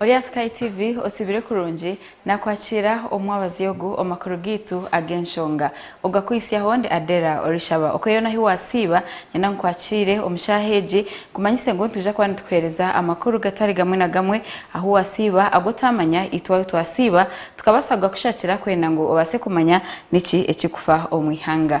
Ori aha Sky TV otsibire kurungi, nakwakiira omu mwabazi ogu omu makuru gaitu ag'enshonga. Ogakwitsyaho ndi Adela orishaba. Okweyona ahi wasiiba, nyenda ngu kwakiire omu shaaha egi nkumanyise ngu nitwija kuba nitukuhereza amakuru gatari gamwe na gamwe ahu wasiiba agu otaamanya itwe ahu twasiiba tukabaasa kugakushakira kwenda ngu obaase kumanya niki ekirikufa omu ihanga.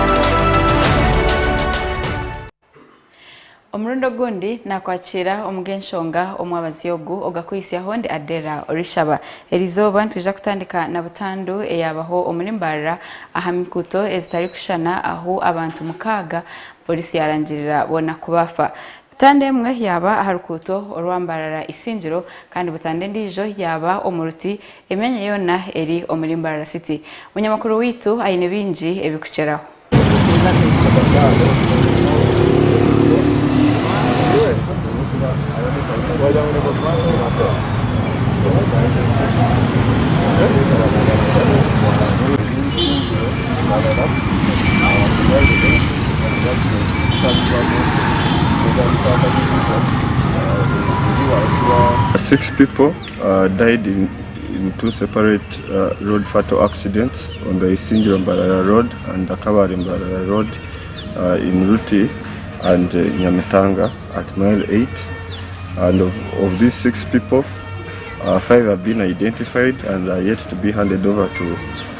Omurundi ogundi naakwakiira omu g'enshonga omwabazi ogu ogakuhitsyaho ndi Adela Orishaba. Erizooba nitwija kutandika na butandu eyaabaho omuri Mbarara aha mikuuto ezitarikushushana ahu abantu mukaaga Poliisi yaarangirira boona ku baafa. Tanda emwe yaaba aha rukuuto orwa Mbarara Isingiro kandi butanda endiijo yaaba omu Ruti, emyanya yoona eri omuri Mbarara City. Munyamakuru waitu aine bingi ebirikukyeraho. Ndarora abakubaire baine kutambuza munsi kuteganisa akasisira ebiri ahakuba. Six people died in in two separate road fatal accidents on the Isingiro Mbarara road and the Kabale Mbarara road in Ruti and Nyamitanga at mile eight and of of these six people five have been identified and are yet to be handed over to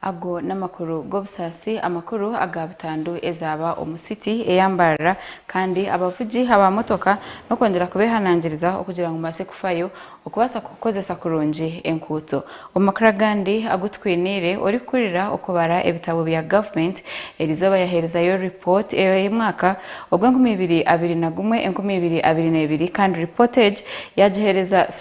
Ago n'amakuru g'obusaasi, amakuru aga butandu ezaaba omu City eyambarara kandi abavugi aba motoka n'okwongyera kubehanangiriza okugira ngu mubaase kufayo okubaasa kukozesa kurungi enkuuto. Omu makuru agandi agu tukwiniire, orikuhurira okubara ebitabo bya government erizooba yaherezayo report ey'omwaka ogw'enkumi ibiri abiri na gumwe enkumi ibiri abiri na ibiri kandi report egi yagihereza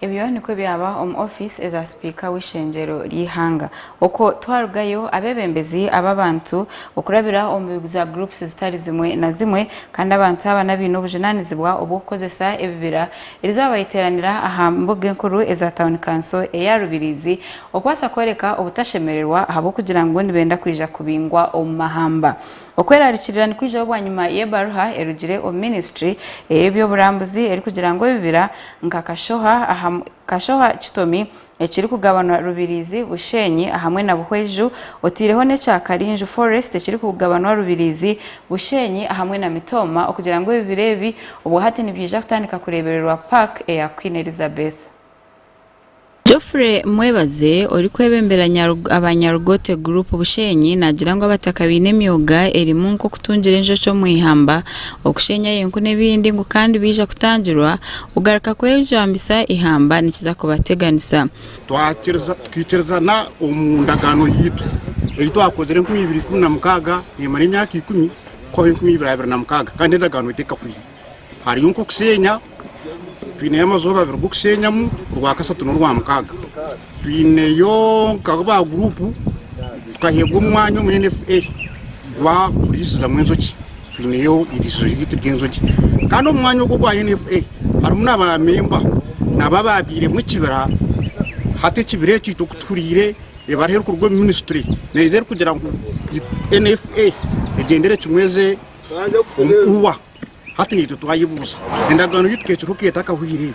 Ebyo nikwo ebyaba omu ofiisi eza sipiika w'eishengyero ry'eihanga. Okwo twarugayo, abeebembezi aba abantu okurabira omu za groups zitari zimwe na zimwe, kandi abantu aba n'abaine obujunaanizibwa obw'okukozesa ebibira Erizooba bariteeranira aha mbuga enkuru eza Town Council eya Rubiriizi okubaasa kworeka obutashemererwa ahabw'okugira ngu nibenda kwija kubingwa omu mahamba. Okweraarikirira nikwijaho bwanyima y'ebaruha erugire omu ministry ey'eby'oburambuzi erikugira ngu ebibira nka Kashoha, Kashoha, Kitomi, ekirikugabanwa Rubirizi, Busheenyi ahamwe na Buhweju oteireho n'ekya Karinju Forest ekirikugabanwa Rubirizi, Busheenyi ahamwe na Mitooma okugira ngu ebibira ebi obwa hati nibyija kutandika kureebererwa Park eya Queen Elizabeth. Geoffrey Mwebaze orikwebembera Nyarug aba Nyarugote Group Busheenyi naagira ngu abataka baine emyoga erimu nk'okutungira enjoki omu ihamba, okusheenyayo enku n'ebindi ngu kandi baija kutangirwa Kugaruka kw'ebijwambisa eihamba nikiza kubateganisa. Twakiriza, tukaikiriza na omu ndagaano yaitu ei twakozire enkumi ibiri ikumi na mukaaga neemara emyaka ikumi kuhwaho enkumi ibiri abiri na mukaaga kandi endagaano egi tekahwaire. Hariyo nk'okusheenya, twineyo amazooba abiri g'okusheenyamu, orwakashatu n'orwa mukaaga. Twineyo nka ba guruupu tukaheebwa omwanya omu NFA gwa kuriisizamu enjoki. Twineyo eiriisizo ryaitu ry'enjoki kandi omu mwanya ogwo ogwa NFA harimu na baamemba nabo abaabairemu ekibira, hati ekibira ekyo itwe ku tuhuriire ebara erikuruga omu minisitule neija erikugira ngu NFA egyendere kimwe eze omu UWA, hati naitwe twayebuuza endagaano ei tukeekire ku eta akahwire.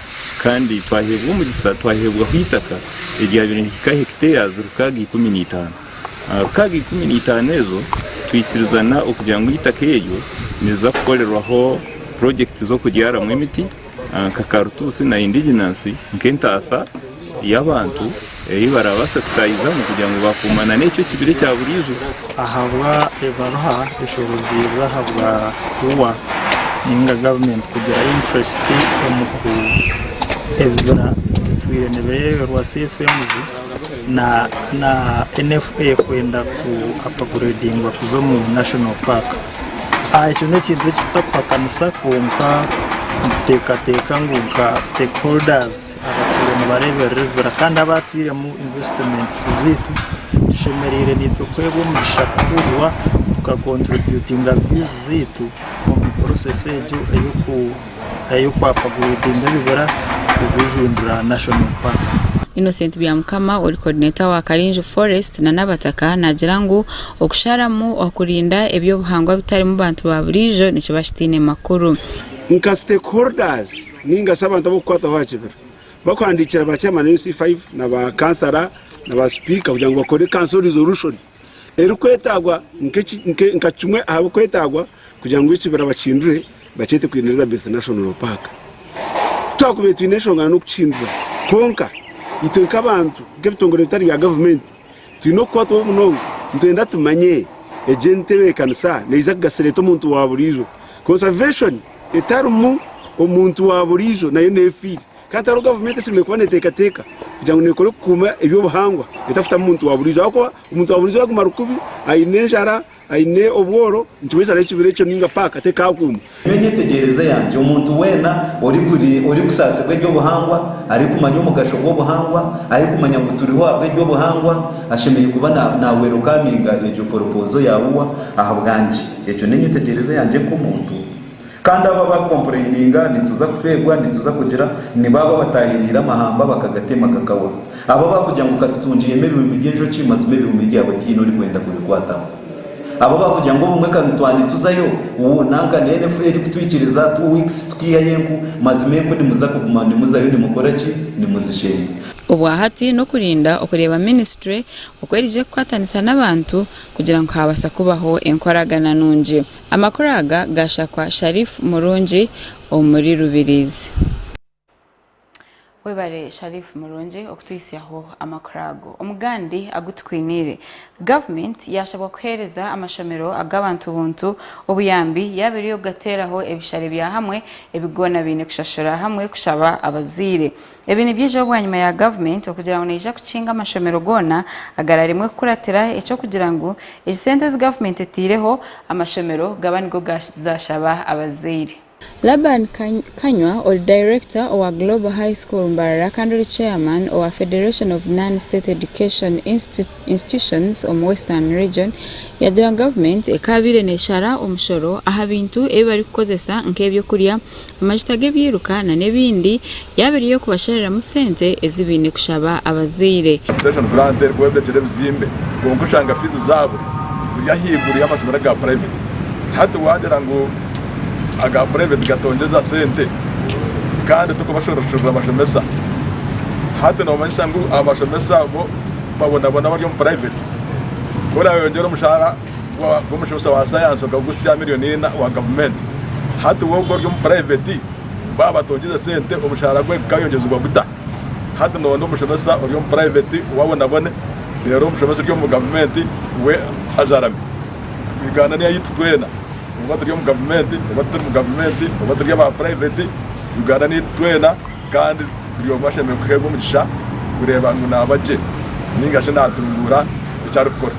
Kandi twaheebwa omugisa, twaheebwaho eitaka eryabaire nirihika hekiteeyazi rukaaga ikumi na itaano. Aha rukaaga ikumi na itaano ezo, twaikirizana okugira ngu eitaka eryo niriza kukorerwaho purojekiti z'okubyaramu emiti nka karutuusi na indiginasi nk'entaasa. y'abantu ei baraabaase kutaahizamu kugira ngu baakuumana n'ekyo ekibire ekya buriijo. Ahabwa ebaruha eshoboziibwe ahabwa Ua ninga government kugira interest omu ku ebibira ebitwire nibeeyoberwa CFMs na na NFA kwenda ku upgradingwa kuza omu national park. Aah ekyo n'ekintu ekitutakuhakanisa kwonka nituteekateeka ngu nka stakeholders, Abataire nibareeberera ebibira kandi abaatairemu investments zaitu tushemereire naitwe kuheebwa omugisha kuhurwa tuka contributinga views zaitu omu process egyo ey'okwapagreidinga ebibira kubihindura national park. Innocent Byamukama ori Coordinator wa Karinju Forest na Nabataka naagira ngu okusharamu kurinda eby'obuhangwa bitarimu bantu ba buriijo nikiba kitaine makuru. Nka stakeholders, Ninga shi abantu ab'okukwataho aha kibira bakuhandiikira ba chairman ba NC5 na ba kansara na ba sipiika kugira ngu bakore kanso resolution erikwetagwa nka kimwe aha bikwetagwa kugira ngu ekibira bakihindure bakyete Queen Elizabeth National Park. Ku twakubaire twine enshonga n'okukihindura kwonka itwe nk'abantu nk'ebitongore ebitari bya gavumenti Twine okukwatwa obu munonga, nitwenda tumanye egi entebeekanisa neija kugasira eta omuntu wa buriijo. Conservation etarimu omuntu wa buriijo nayo neefiire. Kandi hariho gavumenti eshemereire kuba neeteekateeka kugira ngu neekora kukuuma eby'obuhangwa etafutamu muntu wa buriijo ahabw'okuba omuntu wa buriijo yaguma ari kubi, aine enjara, Aine obworo nti waiza arehe ekibira ekyo ninga paaka tekaakuuma. Nyowe emyetegyereze yangye, omuntu weena orikusaasirwa eby'obuhangwa, arikumanya omugasho gw'obuhangwa, arikumanya ngu turiho ahabw'eby'obuhangwa, ashemereire kuba nawerukaminga egyo poropoozo ya UWA ahabwangye. Egyo n'enyetegyereze yangye nk'omuntu. Kandi abo abakompureyininga nituza kufeebwa, nituza kugira, ni baabo abataayereire amahamba bakagatema gakawa. Abo abaakugira ngu katutungyeemu ebihumbi by'enjoki, mazima ebihumbi byawe tihaine orikwenda kubikwataho. Abo abaakugira ngu obumwe ka nitwaa nituzayo, wuu, nanka neena efuru erikutwikiriza, two weeks, kutaihayo enku, mazima enku nimuza kuguma nimuzayo nimukora ki? Nimuzisheenya. Obwa hati n'okurinda okureeba minisitule oku erije kukwatanisa n'abantu kugira ngu haabaasa kubaho enkoragana nungi. Amakuru aga gaashakwa Sharif Murungi omuri Rubirizi. Webare Sharif Murungi okutuhitsyaho amakuru ago. Omu gandi agu tukwiniire, Gavumenti yaashabwa kuheereza amashomero ag'abantu buntu obuyambi yaaba eri y'okugateeraho ebishare bya hamwe ebi goona baine kushashura hamwe kushaba abazaire. Ebi nibyija bwanyima ya gavumenti okugira ngu neija kukinga amashomero goona agararemwe kukuratira eky'okugira ngu egi sente ezi gavumenti eteireho amashomero gaba nigo gazashaba abazaire. Laban Kanywa ori Director owa Global High School Mbarara kandi ori Chairman owa Federation of Non-State Education Institutes, institutions omu Western Region yagira ngu gavumenti ekaabaire neeshara omushoro aha bintu ebi barikukozesa nk'eby'okurya, amajuta g'ebyiruka nana ebindi yaaba eri ey'okubashariramu sente ezi baine kushaba abazaire. Station Grant erikwombekera ebizimbe kwonka oshanga fiizi zaabo ziri ahaiguru y'amashomero aga private. Hati waagira ngu aga private gatongyeza sente kandi turikubashoroshorera bashomesa. Hati noomanyisa ngu abashomesa bo. Babonaboona abari omu puraiveti, ku orayeyongyera omushaara gw'omushomesa wa sayansi okagutsya milioni ina owa gavumenti, hati we ogwo ori omu puraiveti baaba batongyize sente omushaara gwe gukayongyezibwa guta? Hati noone omushomesa ori omu puraiveti we abonabone reero omushomesa ori omu gavumenti we ajarame. Uganda ni eyaitu tweena oba turi omu gavumenti oba tituri mu gavumenti oba turi aba puraiveti, Uganda ni eyaitu tweena. Kandi buri omwe ashemereire kuheebwa omugisha kureeba ngu naaba gye ninga shi naatunguura eki arikukora.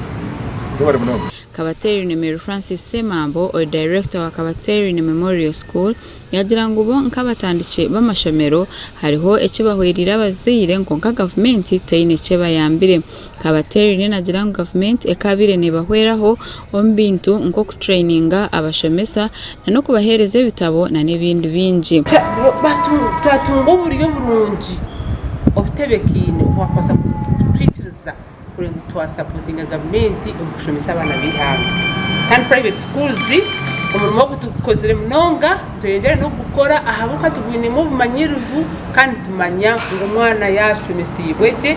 Mwebare munonga. Kabateerine Mary Francis Ssemambo, ori Director wa Kabateerine Memorial School, yaagira ngu bo nk'abatandiki b'amashomero hariho eki bahwereire abazaire kwonka gavumenti teine eki ebayambire. Kabateerine naagira ngu gavumenti ekabaire neebahweraho omu bintu nk'okutureyininga abashomesa n'okubaheereza ebitabo n'ebindi bingi. Twatunga oburyo burungi obutebekaine obu baakubaasa kutwikiriza kureeba oku twasapootinga gavumenti omu kushomesa abaana b'eihanga. Kandi Private Schools omurimo ogu tugukozire munonga, nitweyongyera n'okugukora ahabw'okuba tugwinemu obumanyirivu kandi nitumanya ngu omwana yaashomeseibwe gye,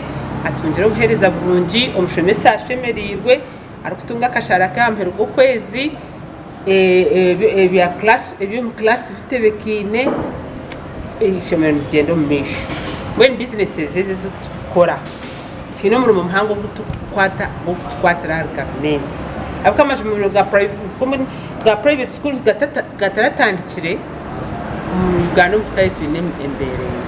atungire obuheereza burungi, omushomesa ashemereirwe. Arikutunga akashaara ke aha muheru gw'okwezi, eby'omu class bitebekaine, eishomero nirigyenda omu maisho. Mbwenu businesses ezi eziturikukora, twine omurimo muhango ogu turikukwata gw'okukwatira ahari gavumenti. Ahabw'okuba amaju amarungi ga private schools gataratandikire, omu Uganda omu ka yaitu twine embeera emwe.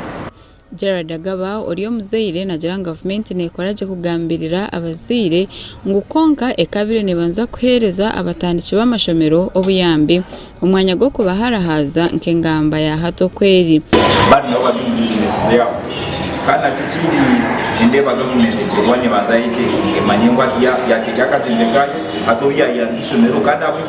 Gerald Agaba ori omuzaire nagira ngu gavumenti nekora gye kugambirira abazaire ngu kwonka ekabaire nebanza kuhereza abatandiki b'amashomero obuyambi omwanya gw'okubaharahaaza nka engamba ya hati oku eri. Abandi nabo bari omu bizinesi zaabo kandi nakyo ekindi nindeeba gavumenti ekiri kuba nebanza yecwekinge emanye ngu hati yateeka akazembe kaayo hati obu yayamba eishomero kandi ahabw'enki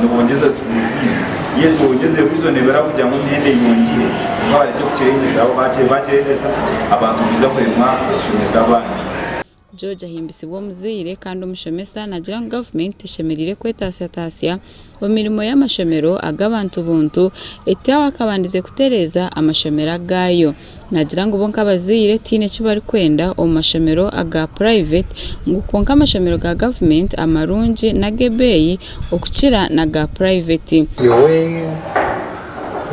Nobongyeza school fees yes wongyeze reasonable eraba kugira ngu emyenda eyongyire kwonka barekye kukirengyesaho bakirengyesa abantu nibaija kuremwa okushomesa abaana. George ahimbisibwa omuzaire kandi omushomesa nagira ngu government eshemereire kwetatsyatasya omu mirimo y'amashomero ag'abantu buntu etaho akabandize kutereeza amashomero agaayo. Naagira ngu bo nk'abazaire tihaine eki barikwenda omu mashomero aga purayiveti ngu kwonka amashomero ga gavumenti amarungi n'ag'ebeeyi okukira n'aga purayiveti. Nyowe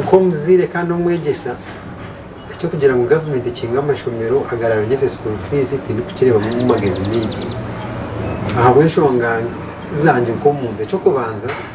nk'omuzaire kandi n'omwegyesa, eky'okugira ngu gavumenti ekinge amashomero agaraayogyese sukuuru fiizi tindikukireebamu magezi maingi ahabw'enshonga zangye nk'omuntu. Eky'okubanza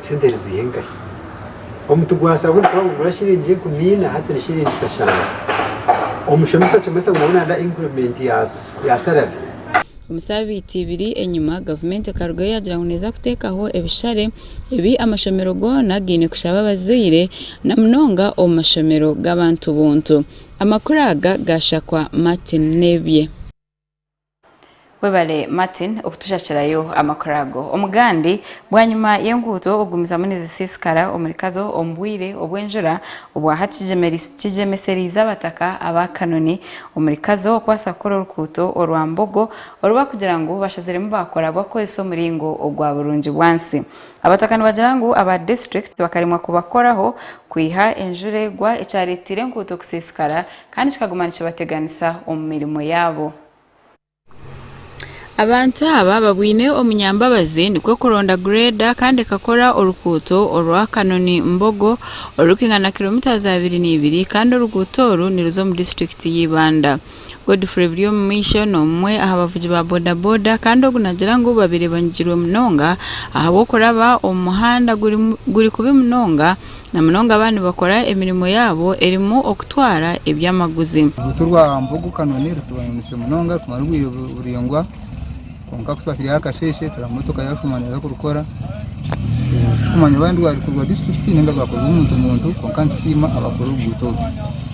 Sente eri ziiha enkahi? Omuti gwa saabuuni nikaba nigugura shiringi enkumi ina hati ni shiringi kashanju. Omushomesa acomesa ngu nawe nada increment ya salary. Omu saabiiti ibiri enyima, gavumenti ekarugayo yaagira ngu neeza kuteekaho ebishare ebi amashomero goona gaine kushaba abazaire na munonga omu mashomero g'abantu buntu. Amakuru aga gaashakwa Martin Nebye. Webale Martin okutushakirayo amakuru ago. Omugandi, Bwanyima y'enguuto okugumizamu nizisiisikara omuri Kazo omu bwire obw'enjura obwa hati kigyemesereize abataka aba Kanoni omuri Kazo okubaasa kukora orukuuto orwa Mbogo oru bakugira ngu bashaziremu baakora bakukozesa omuringo ogwa burungi bwansi. Abataka nibagira ngu aba disiturikiti bakaremwa kubakoraho kwiha enjura egwa ekyareeteire enkuuto kusiisikara Kandi kikaguma nikibateganisa omu mirimo yaabo. Abantu aba babwine omunyambabazi nikwo kuronda grader kandi ekakora orukuuto orwa Kanoni Mbogo orurikingana kilometres abiri n'ibiri kandi oruguuto oru niruza omu district ya Ibanda. Godfrey Biryomumaisho nomumwe aha bavugi ba boda boda kandi ogu nagira ngu babire banyigirwe munonga ahabw'okuraba omu muhanda guri kubi munonga na munonga baaba nibakora emirimo yaabo erimu okutwara eby'amaguzi. Oruguuto rwa Mbogo-Kanoni rutwayononese munonga kumara obwire buraingwa kwonka ku twataireho akasheeshe tureba motoka yaashuma neeza kurukora. Titukumanya oba rwari rwa disiturikiti nainga rwakorwa omuntu buntu kwonka nitusiima abaakora oruguuto oru.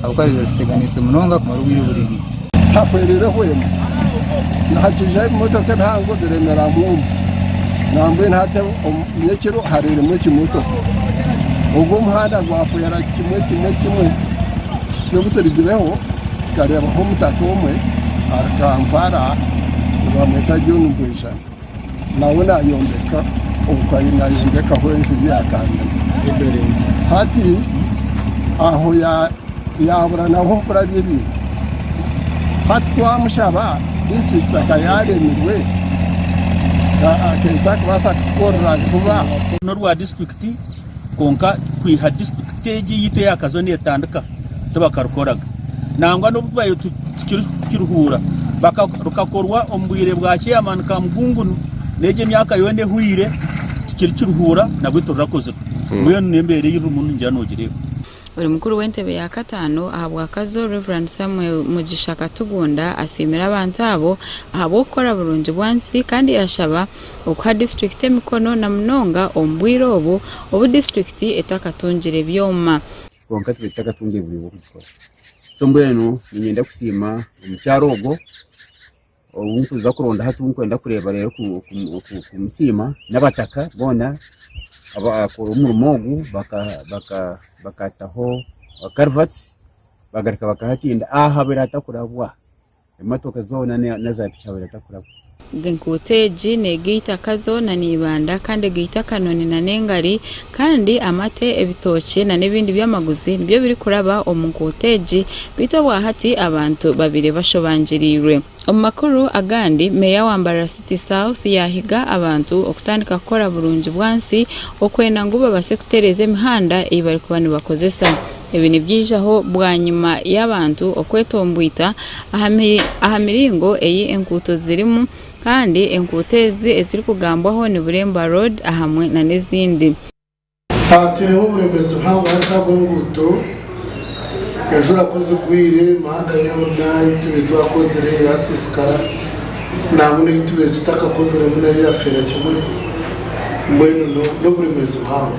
Ahabw'okuba riba riteganiise munonga kumara obwire buraingwa. Tahwereire hwena. Nihakiija ebimotoka ebihango biremera mwoma. Nambwenu hati omu nyekiro hareiremu ekimotoka. Ogwo omuhanda gwahwera kimwe kimwe kimwe kusitya obu turigireho tukareebaho omutaka omwe ari Kampala nibamweta John Bwejana. Nawe nayombeka obukari nayombekaho enju ya kanyina. Hati aho yabura naho hokurabya ebintu. Hati twamushaba district akaba yaremirwe akaba takubaasa kutukorera juba. Norwa district. Kwonka kwiha disiturikiti egi yaitu eyakazooba netandika tibakarikoraga nangwa n'obu twabaire tukirikukiruhuura rukakorwa omu bwire bwa chairman Kamugungunu n'egi emyaka yoona ehweire tukirikiruhuura nabwe tirirukozirwe mbwenu n'embeera ei rurimu ningira nogireeba. Buri mukuru w'entebe ya kataano aha bwakazo Rev Samuel Mugisha Katugunda asiimire abantu abo ahabw'okukora burungi bwansi kandi yashaba okuha disiturikiti emikono na munonga omu bwire obu obu disiturikiti etakatungire byoma. Kwonka twete tutakatungire buryo bw'okugikora so mbwenu niinyenda kusiima omukyara ogwo. Ou nkuza kurondaho eki nkwenda kureeba reero kumusiima n'abataka boona abakora omurimo ogu bakataho karivati bagaruka bakaha ekindi ahabwera hatakurabwa emotooka zoona naza piki ahabwera hatakurabwa. Enkuuto egi neega eitaka zoona neibanda kandi ega eitaka noni nana engari Kandi amate, ebitookye na n'ebindi by'amaguzi nibyo birikuraba omu nkuuto egi beitu obwa hati abantu babaire bashobangirirwe. Omu makuru agandi, Meeya wa Mbarara City South yaahiga abantu okutandika kukora burungi bwansi okwenda ngu babaase kutereeza emihanda ei barikuba nibakozesa. Ebi nibyaijaho bwanyima y'abantu okwetomboita aha miringo ei enkuuto zirimu Kandi enkuuto ezi ezirikugambwaho ni Bureemba Road ahamwe nana ezindi. Haatwiremu oburemeezi buhango ahabw'enguuto, enjura ku zigwire emihanda yoona ei tube twakozire yaasiisikara nangwa n'ei tube tutakakoziremu nayo yafeera kimwe, mbwenu n'oburemeezi buhango.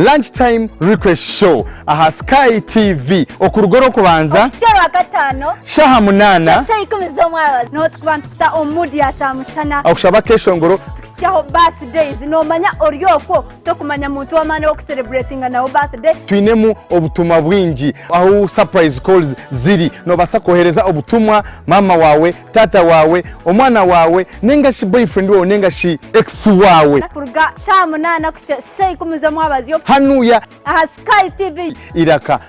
Lunch time request show aha sky TV okuruga orw'okubanza okuhitsya orwakataano shaha munaana kuhitsya shaha ikumi z'omwabazyo niho turikuba nituta omu mood ya kyamushana okushaba akeshongoro tukitsyaho birthdays noomanya ori okwo Tokumanya muntu w'amaani ow'okusereburetinga nawe birthday. Twinemu obutumwa bwingi ahu surprise calls ziri. Noobaasa kwohereza obutumwa maama waawe, taata waawe, omwana waawe, nainga shi boyfriend waawe nainga shi ex waawe. Kuruga shaaha munaana kuhitsya shaaha ikumi z'omwabazyo. Hanuya. Aha Sky TV. Iraka.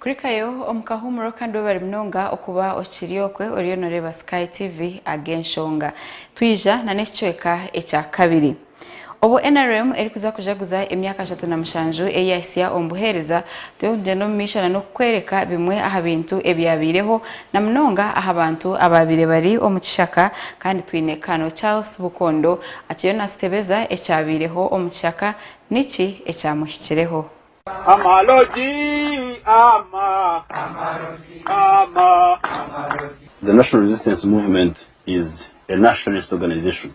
kurikayo omu kahuumuro kandi webare munonga okuba okiri okwe oriyo noreeba sky tv ag'enshonga twija na n'ekicweka ekya kabiri Obu nrm erikuza kujaguza emyaka ashatu na mushanju ei yahitsya omu buheereza, twine kugyenda omu maisho na n'okukwereka bimwe aha bintu ebyabaireho na munonga aha bantu abaabaire bari omu kishaka kandi twine Colonel Charles Bukondo akiriyo naatutebeza ekyabaireho omu kishaka niki ekyamuhikireho. The National Resistance Movement is a nationalist organization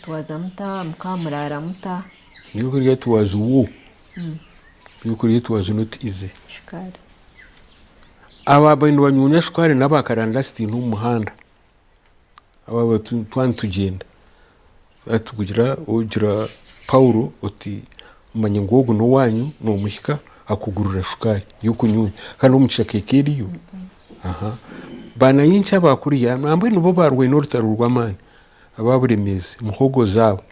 Twaza muta? Mukaba muraara muta? Do you create was who? Do you create was not easy? Shukaari. Abo abari nibanyuunya shukaari nabo akaranda sitiine omu muhanda. Abo aba tu- twaba nitugyenda. Twaba tugira ogira Paulo oti manya ngu ogu n'owaanyu noomuhika akugurira shukaari y'okunyuunya. Kandi omu kishaka eka eriyo. Aha. Baana Inki aba kuriya? Nambwenu bo baarwaine orutaro rw'amaani. Aba Buremeezi, muhogo zaabo,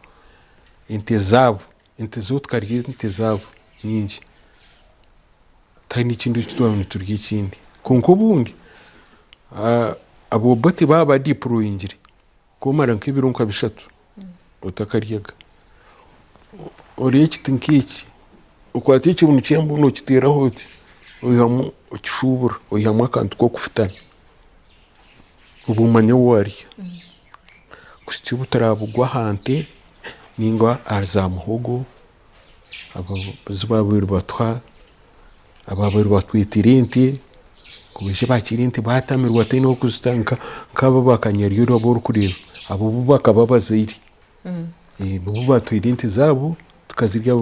ente zaabo, ente zo tukarya ente zaabo nyingi tihaine ekindi eki twaba niturya ekindi. Kwonka obundi ab'Obote baaba badipuroyingire kwomara nk'ebiro nka bishatu otakaryaga, orya ekiti nk'eki, okwata ekibunu ky'embwa nookiteeraho oti, oihamu okishuubura oihamu akantu k'okufutana. obumanya ou ari bushusha obu turabugwa aha nte ninga ahari za muhogo ezi babaire nibatuha ababaire batwitire ente kuburyo bakira ente batamirwa ate nokuzita nkaba bakanyaruryo abu orikureeba abo bu bakaba bazaire nibo batwire ente zaabo tukazirya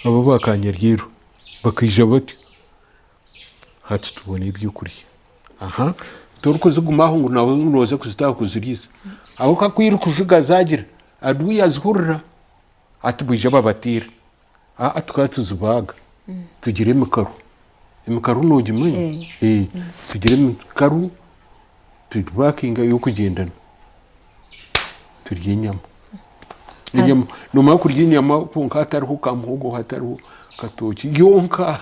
abo ba kanyaruryo bakaija batyo. Hati tubone ebyokurya aha torikuzigumaho ngu nawe nooza kuzitaho kuziriisa ahabw'okuba ku irikujuga zaagira adui yazihurira ati bwija babateera aa tukaba tuzibaaga tugira emikaru emikaru noogimanya Eh, Eh, tugira emikaru tugibakinga ey'okugyendana turya enyama enyama nomara kurya enyama kwonka hatariho ka muhogo hatariho katookye yonka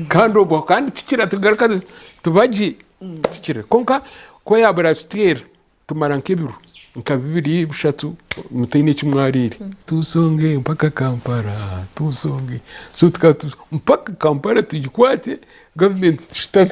kandi obwo kandi kikira tugaruka tuba gye tikira kwonka ku yaaba eratutera tumara nk'ebiro nka bibiri bushatu mutaine eki mwariire tusonge mpaka kampala tusonge so tukaba mpaka kampala tugikwate gavumenti tushutame.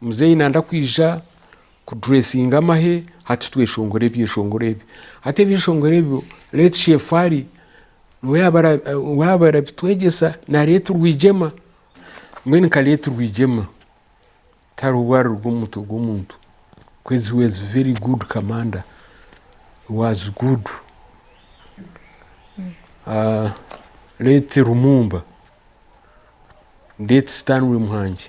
Muzeeyi nanda kwija ku dressinga amahe hati tweshongore ebyeshongoro ebyo hati ebyeshongoro ebyo let chef Ali niwe yaba arabitwegyesa na let Rwigyema mbwenu nka let Rwigyema tihariho obwariruga omu mutwe gw'omuntu coz he was very good commander he was good let Lumumba let Stanley Muhangi.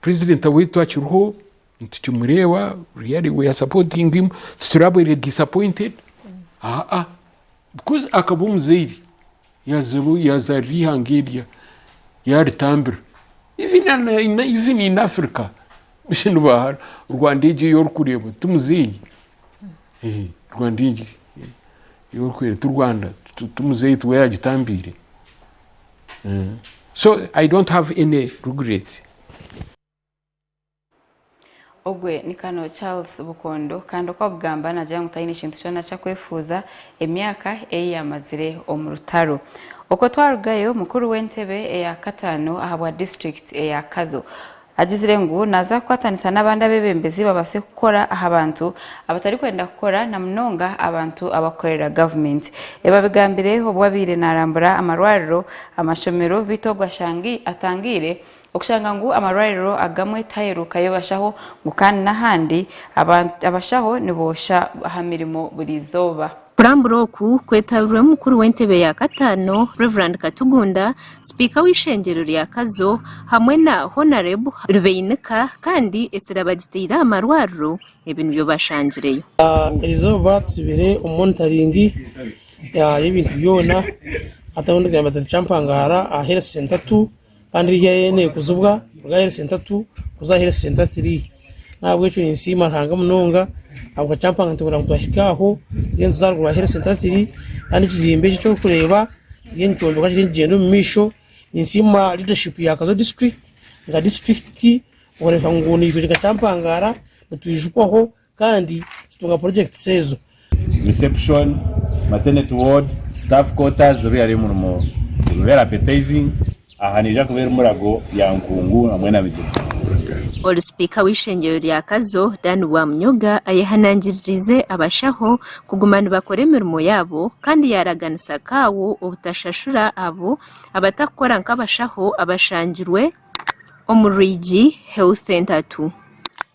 President waitu akiriho nitukimureeba really we are supporting him titurabaire disappointed aa because akaba omuzaire yazarira eihanga erya yaritambira even even in Africa nibahara Rwanda egyo ei orikureeba ti muzeeyi Rwanda egyo ei orikureeba ti Rwanda ti muzeeyi tiwe yagitambiire. so i don't have any regrets. Ogwe ni Colonel Charles Bukondo kandi oku akugamba nagira ngu taine kintu kyona ki akwefuuza emyaka ei yamazire omu rutaro. Okwo twarugayo, mukuru w'entebe eya kataano ahabwa disiturikiti eya Kazo, Agizire ngu naaza kukwatanisa n'abandi abeebembezi babaase kukora aha bantu abatarikwenda kukora na munonga abantu abakukorera gavumenti. Ebi abigambire obu abaire naarambura amarwariro, amashomero beitu ogu atangiire okushanga ngu amarwariro agamwe tihaheerukayo bashaho ngu kandi n'ahandi abashaho niboosha aha mirimo buri izooba. Kurambura oku kwetabirwe omukuru w'entebe ya kataano Rev Katugunda, sipiika w'eishengyero rya Kazo hamwe na Honareb Rubeinika kandi esira bagitaire aha marwariro ebi nibyo bashangireyo. Eri izooba tutsibire omu monitaringi y'ebintu byona hati ahu ndigambira turi kyampangara aha health center tu kandi eri haihi nekuzibwa kuruga ahari sentatu kuza ahari sentat iri nahabwekyo ninsiima Ruhanga munonga ahabwa kyampa ngu nituburira ngu twahika aho tugyende tuze aharuguru ahari sentat iri kandi ekizimbe eki ekyorikureeba kiri nikyombekwa kiri nikigyenda omu maisho ninsiima leadership ya Kazo district nka district kureeba ngu nitworeka kyampangara nitwijukwaho Kandi tutunga projects ezo. Reception, maternity ward, staff quarters reero yaareeba omurimo guri very appetizing. Aha neija kuba eri Murago, Lyankungu hamwe na Migyera. Ori sipiika w'eishengyero rya Kazo, Dan Rwamunyoga ayehanangiririize abashaho kuguma nibakora emirimo yaabo kandi yaaraganisa kaawo obutashashura abo abatakukora nk'abashaho abashangirwe omu Rwigi Health Centre Two.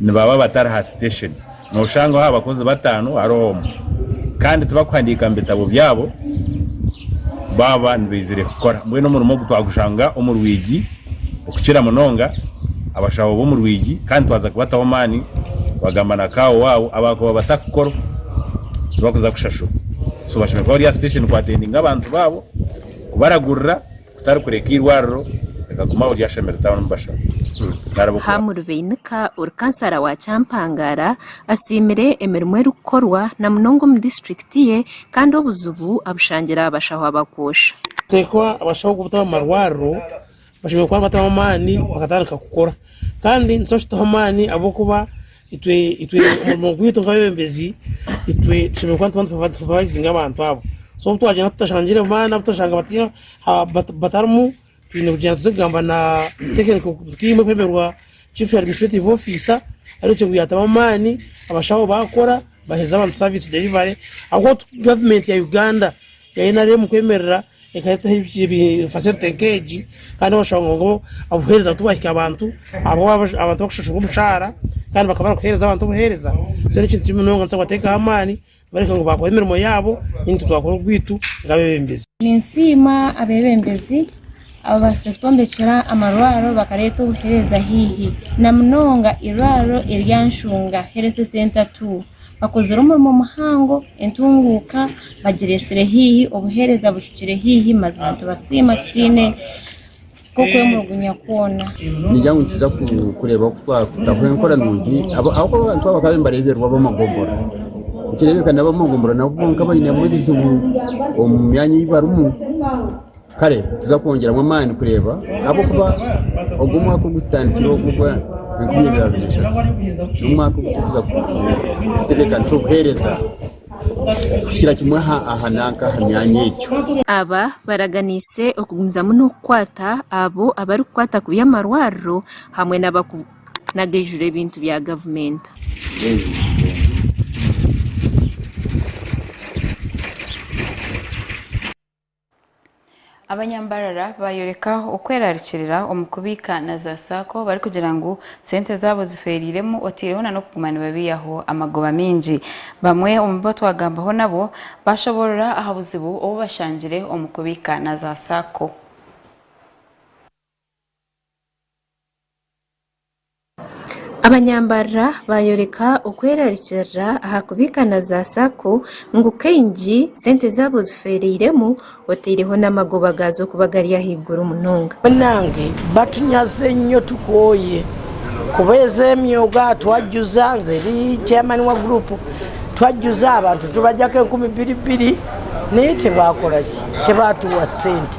nibaba batari ha sitesheni, nooshangaho aha bakozi bataano hariho omwe kandi tibarikuhandiika mu bitabo byabo baaba nibaizire kukora. Mbwenu omurimo ogu twagushanga omu rwigi okukira munonga, abashaho b'omu rwigi kandi twaza kubataho amaani twagamba na kaawa waabo abaakuba batarikukora tibarikuza kushashurwa so bashemereire kuba bari aha sitesheni kuatendinga abantu baabo, kubaragurira. Kutarikureka eirwariro reka guma ori ashamere town mubashaba nariba okura. Ham Rubeinika ori kansara wa Kyampangara asiimire emirimo erikukorwa na munonga omu disiturikiti ye kandi obuzibu abushangire aha bashaho abakwoosha. Kuteekwa abashaho kubutaho omu marwariro bashemereire kuba nibataho amaani bakatandika kukora kandi nitubashi tutaho amaani ahabw'okuba Itwe itwe omurimo gwaitu nk'abebembezi itwe tushemereire kuba nituba nitusupervisinga abantu abo so obu twagyenda tutashangire baana abu turashanga bati- ha- bat- batarimu twine kugyenda tuze kugamba na tekiniko tiimu erikwemerwa chief administrative officer ari ekyo ngu yaatamu amaani abashaho baakora baheereze abantu service delivery ahabw'okuba gavumenti ya Uganda ya nrm kwemerera Ekatuha facility nk'egi kandi oshanga ngu obuheereza tibwahika aha bantu ahabw'okuba abantu bakushashurwa omushaara kandi bakaba nibakuheereza abantu obuheereza so n'ekintu kibi munonga nitubaasa kubateekaho amaani kubareka ngu baakora emirimo yaabo naitwe itwe twakora ogwaitu nk'abeebembezi. Ninsiima abeebembezi ababaasize kutwombekyera amarwariro bakareeta obuheereza haihi na munonga eirwariro erya Nshunga Health Centre ii. Bakozire omurimo muhango, entunguuka bagireetsire haihi, obuheereza buhikire haihi, mazima nitubasiima tutaine nk'okwemulugunya kwona. Ningira ngu nituza ku- kureeba oku twakutaho enkora nungi abo- ahabw'okuba abantu abo bakaba nibareeberwa ab'amagombora nikireebeka n'ab'amagombora nabo boona bainemu ebizibu omu myanya ei barimu Kare nituza kwongyeramu amaani kureeba ahabw'okuba ogu omwaka ogu tutandikire ogu ogwa enkumi ibiri abiri na ishatu n'omwaka ogu turikuza kutebeekanisa obuheereza kuhikira kimwe aha aha nanka aha myanya egyo. Aba baraganiise okugumizamu n'okukwata abo abarikukwata kubi amarwariro hamwe n'abakubi n'agaijura ebintu bya gavumenti. Abanyambarara baayoreka okweraarikirira omu kubiika na za saako barikugira ngu sente zaabo zifeereiremu otaireho nana okuguma nibabiihaho amagoba maingi. Bamwe omu bo twagambaho nabo baashoboorora aha buzibu obu bashangire omu kubiika na za saako. Abanyambarira baayoreka okwerarikirira aha kubiika na za sacco ngu kaingi sente zaabo zifeereiremu oteireho n'amagoba gaazo kuba gari ahaiguru munonga. Iwe nange batunyaze nyo tukooye kuba ezo emyoga twajuza nze ndi chairman wa group twajuza abantu tubajako enkumi biri biri naye tebakora ki tebatuwa sente.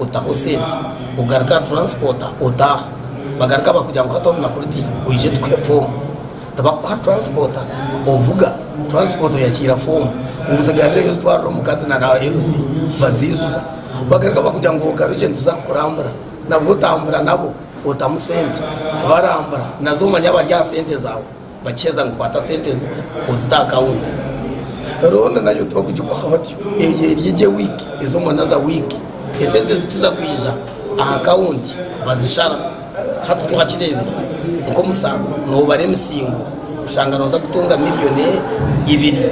otaho sente ogaruke aha transport otaha bagaruka bakugira ngu hati orunaku ruti oije tukuhe fomu tibakukuha transport ovuga transport oyakiira fomu ngu zigarire yo zitwarire omukazi na na LC baziijuza bagaruka bakugira ngu ogarukye nituza kukurambura nabwo otambura nabo otamu sente barambura nazo omanya bari aha sente zawe. Bakiheza ngu kwata sente ezi ozite aha account roho na nayo tibakugikwaho batyo eyo eri egye week ezi omu another week esente zikiza kwija aha account bazishara hati twakirebire nka omu sacco nobara emisingo oshanga noza kutunga million ibiri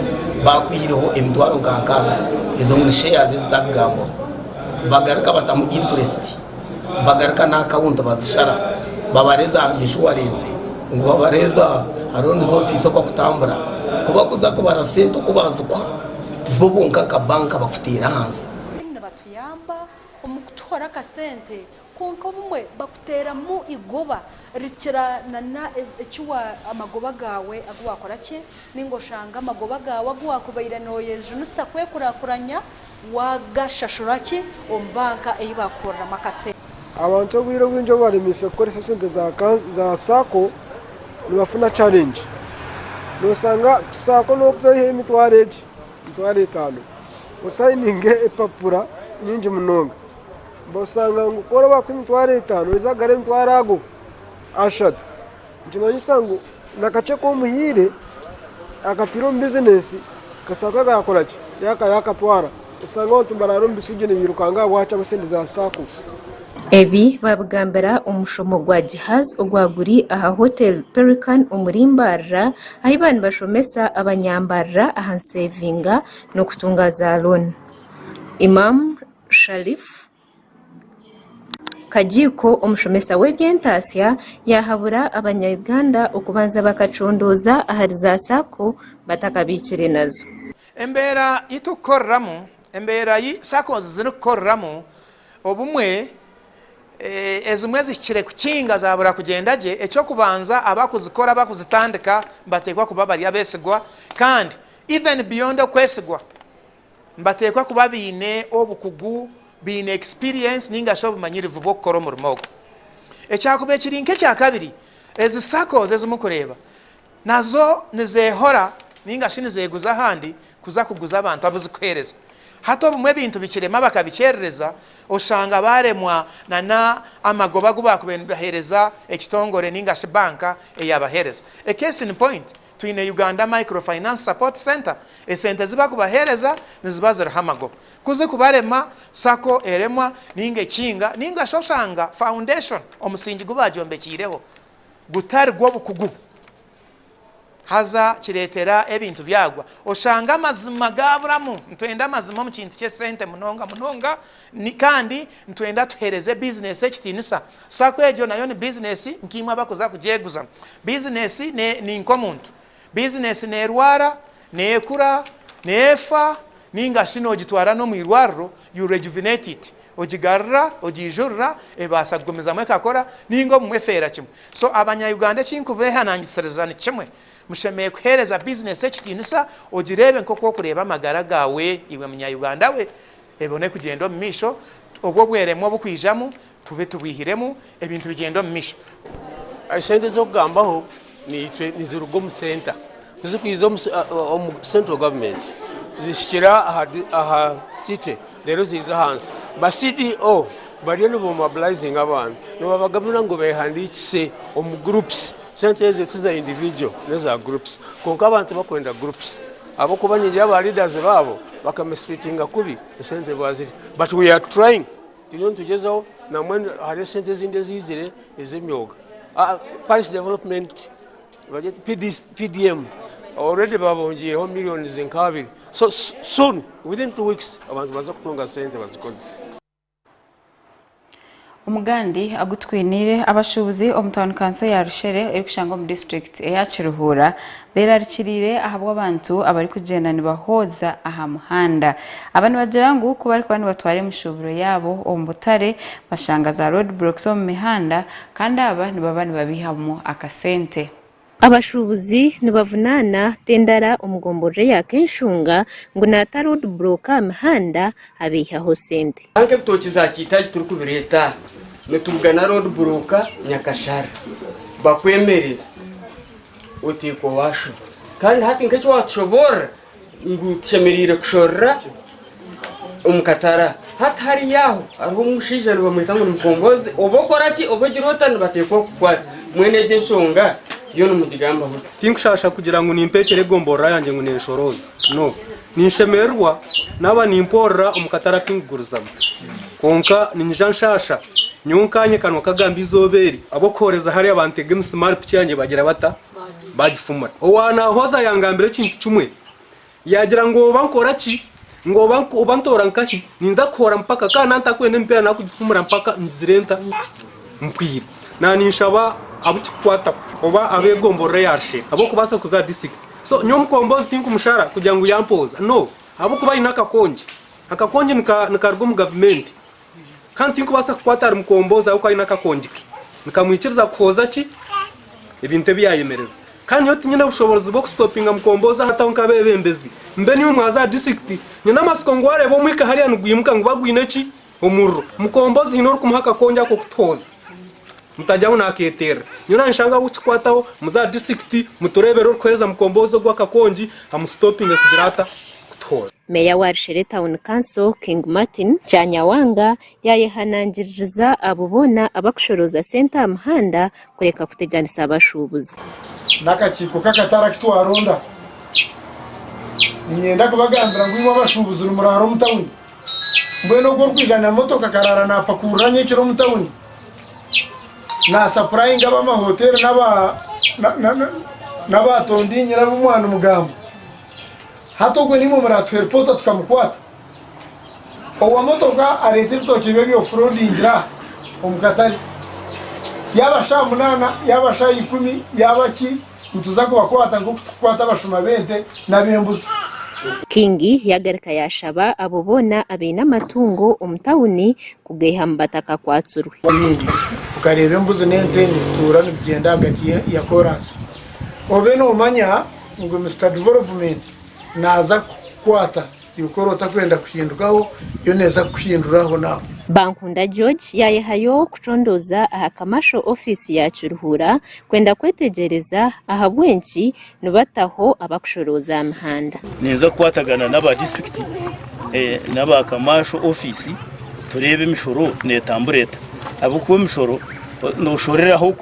bakwihireho emitwaro nka nkaga ezo ni shares ezitakugambwaho bagarika batamu interest. bagaruka na akawunti bazishara babareza aha inshuwarensi ngu babareza aha ronizi ofisi oku bakutambura ku bakuza kubara sente oku bazikuha bo bonka nka banka bakutera ahansi. Abarimu nibatuyamba omu kutuhora akasente kwonka obumwe bakuteramu eigoba rikira na amagoba gawe agu wakora ki ninga oshange amagoba gawe agu wakubaire noyejunisa kwekurakuranya Waagashashura ki omu banka ei baakukoreramu akasente? Abantu obwire obwingi obu baremeitsire kukoresa esente za saako nibafuna charengi. Nooshanga saako n'okuzayo emitwaro egi, emitwaro etaano osayininge empapura nyingi munonga. Oshanga ngu ku orabaha emitwaro etaano oija kugarura emitwaro ago ashatu. nikimanyisa ngu nakakye aku omuhaire akataire omu bizineesi kasha kagakora ki yakatwara oshange abantu nibaraara omu bisuugye nibairukanga ahabwaki ahabwa sente za sacco. Ebi baabigambira omu mushomo gwa Gihaz ogwa guri aha Hotel Pelican omuri Mbarara ahi baba nibashomesa abanyambarara aha nseevinga n'okutunga za looni. Imam Sharif. Kagiiko omushomesa w'eby'entaatsya yahabura abanya Uganda okubanza bakacundooza ahari za sacco batakabaikire nazo. Embeera yi turikukoreramu, embeera yi saccos zirikukoreramu, obumwe ezimwe zihikire kukinga zaabura kugyenda gye, eky'okubanza abakuzikora, abakuzitandika nibateekwa kuba bari abeesigwa kandi even beyond okwesigwa, Nibateekwa kuba baine obukugu, baine ekisipiriyensi nainga shi obumanyirivu bw'okukora omurimo ogu. Ekyakubaire kiri nk'ekya kabiri, ezi sakozi ezi murikureeba nazo nizeehora nainga shi nizeeguza ahandi kuza kuguza abantu abu zirikuheereza. Hati obumwe ebintu bikirema bakabikyerereza, oshanga baaremwa n'amagoba agu baakubaire nibaheereza ekitongore nainga shi banka eyaabaheereza. A case in point, Twine Uganda Micro Finance Support Centre, esente ezi bakubahereza niziba ziriho amagoba. Ku zikubarema, sacco eremwa ninga ekiinga ninga shi oshanga foundation, omusingi gu baagyombekyireho, gutari gw'obukugu haza kireetera ebintu byagwa. Oshanga amazima gaaburamu. Nitwenda amazima omu kintu ky'esente munonga munonga Kandi nitwenda tuhereze bizinesi ekitinisa. Sacco egyo nayo ni bizinesi nk'imwe abakuza kugyeguza. Bizinesi ni nk'omuntu. Bizinesi nerwara, nekura, nefa ninga shi nogitwara n'omu irwariro, you rejuvenate it. Ogigarura, ogyijurira, ebaasa kugumizamu ekakora ninga obumwe efeera kimwe. So abanya-Uganda eki nkubehanangisiriza ni kimwe, mushemereire kuhereza bizinesi ekitinisa, ogireebe nk'oku orikureeba amagara gaawe iwe munya-Uganda we. Ebone kugyenda omu maisho, obwo obweremwa obukwijamu tube tubwihiremu, ebintu bigyende omu maisho. Esente ez'okugambaho naitwe niziruga omu center tizikwiza omu central government zihikira aha city reero ziiza ahansi ba CDO bariyo nibamobilizinga abantu nibabagambira ngu behandiikise omu groups sente ezo tiza individual neza groups kwonka abantu bakwenda groups. Ahabw'okuba nyingi y'aba leaders baabo baka mistreatinga kubi esente ebi bazirya. But we are trying, turiyo nitugyezaho na mbwenu hariyo esente ezindi eziizire ez'emyooga. Parish development, PDM, already baabongyireho millions nka abiri. So soon, within two weeks, abantu baza kutunga sente bazikozese. Omugandi agu twiniire, abashuubuzi omu tauni kanso ya Rushere erikushangwa omu disiturikiti eya Kiruhura berarikiriire ahabw'abantu abarikugyenda nibahooza aha muhanda. Aba nibagira ngu ku barikuba nibatwara emishuuburo yaabo omu butare bashanga za road blocks omu mihanda kandi aba nibaba nibabeihamu akasente. Abashuubuzi nibavunaana Tendara omu gomborora eya Kenshunga ngu naata road block aha mihanda abeihaho sente. Nanka ebitookye za Kiitaagi turikubireeta aha nitubigana road block Nyakashara bakwemereze oteekwa waashoba kandi hati nka eki waatushoboorora Ngu tushemereire kushorora omu katare aha. Hati hariya aho hariho omushaija nibamweta ngu ni mukombozi. Oba okora ki, oba ogira ota nibateekwa kukukwata. Mbwenu egyo enshonga yo nimugigambaho ota? Tinkushaasha kugira ngu nimpa ekiro egomborora yangye ngu nenshorooza. No. Ninshemererwa naaba nimpoorora omu katare aku nkugurizamu. Kwonka ninyija nshaasha. Nyowe nkaanye kanwa kagamba eizooba eri, ab'okuhooreza hariya bantega emisimaari piki yangye bagira bata? baagifumura. Owaanaahoza yangambira ekintu kimwe, yaagira ngu oba nkora ki, ngu oba oba ntoora nkahi, ninza kuhoora mpaka kandi na ntakwenda emipiira naakugifumura mpaka ngizire nta mpwire. Naaninshaba abu kikukwataho oba abeegomborora eya Rushere ab'okubaasa kuza aha disiturikiti. So nyowe omukombozi tinkumushara kugira ngu yampooza. No, ahabw'okuba aine akakongi. Akakongi nika nikaruga omu gavumenti. Kandi tinkubaasa kukwata ahari mukomboozi ahabw'okuba aine akakongi ke. Nikamwikiriza kuhooza ki? Ebintu ebi yaayemereza. Kandi nyowe tinyine bushoboorozi bw'okusitopinga mukomboozi aha tauni nk'abeebembezi. Mbe niiwe mwaazi aha disiturikiti. Nyine amatsiko ngu waareeba omwika hariya nigwimuka nguba gwine ki? Omuriro. Mukomboozi haine orikumuha akakongi ako kutuhooza. Mutaja ngu naakeeterera. Nyowe naanshanga ahabw'okukikwataho, muze aha disiturikiti, mutureebere orikuheereza mukomboozi ogwo akakongi, amusitopinge kugira ata? kutuhooza. Meeya wa Rushere Town Council, King Martin Kyanyawanga yaayehanangiririza abo boona abarikushorooza sente aha muhanda kureka kuteganisa abashuubuzi. N'akakiiko k'akatare aku twaronda. Niinyenda kubagambira ngu imwe abashuubuzi nimuraara omu tauni. Mbwenu ogwo orikwija na motoka akaraara naapakuurira nyekiro omu tauni, naasapurayinga ab'amahoteeri n'abaatondiinyira ab'omwaani mugambo. Hati ogwo nimwo muratuha eripota tukamukwata? Owa motoka areta ebitookye bye bya off roadingire aha omu katare, yaba shaaha munaana yaba shaaha ikumi yaba ki nituza kubakwata nkoku tukukwata abashuma b'ente n'ab'embuzi. King yagarika yashaba abo boona abaine amatungo omu tawuni kugaiha mu batakakwatsirwe. Ebindi okareeba embuzi n'ente nibituura nibigyenda ahagati ya koransi obe nomanya. Ogwo Mister Development naaza kukukwata, yokora otakwenda kuhindukaho, yo neeza kukuhindura aho n'aho. Bankunda George yaayehayo kucondooza aha Kamasho ofiisi ya Kiruhura kwenda kwetegyereza ahabw'enki nibataho abakushorooza aha mihanda. Niinza kukwatagana n'aba disiturikiti n'aba Kamasho ofiisi tureebe emishoro neetambura eta ahabw'okuba emishoro nooshoreraho.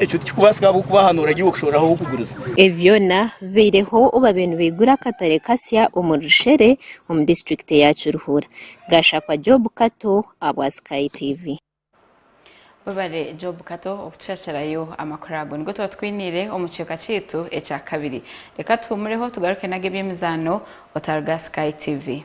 Ekyo tikikubaasika ahabw'okuba aha nooragiirwa kushorora ahu orikuguriza. Ebi byona bibaireho obaabaire nibaigura akatare kasya omu Rushere omu disiturikiti ya Kiruhura. Gashakwa Job Kato abwa Sky TV. Webare Job Kato okutushakirayo amakuru ago. Nigo tuba tukwiniire omu kicweka kyaitu ekyakabiri. Reka tuhuumureho tugaruke nago eby'emizaano otaruga Sky TV.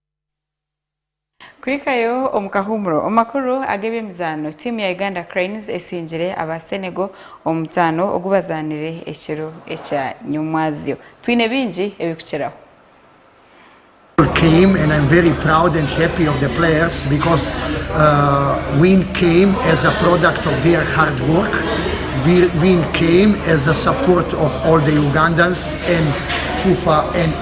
Kuhikayo omu kahuumuro. Omu makuru ag'eby'emizaano, tiimu ya Uganda Cranes esingire aba Senegal omu mutaano ogu bazaanire ekiro ekya nyomwazyo. Twine bingi ebirikukiraho.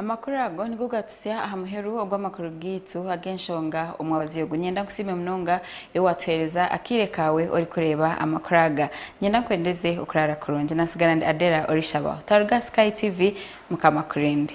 Amakuru ago nigo gatutsya aha muheru ogw'amakuru gaitu ag'enshonga omwabazi ogu. Niinyenda nkusiime munonga iwe waatuheereza akaire kaawe orikureeba amakuru aga. Niinyenda nkwendeze okuraara kurungi. Naatsigara ndi Adela Orishabaho. Twaruga aha Sky TV, Mukama akurinde.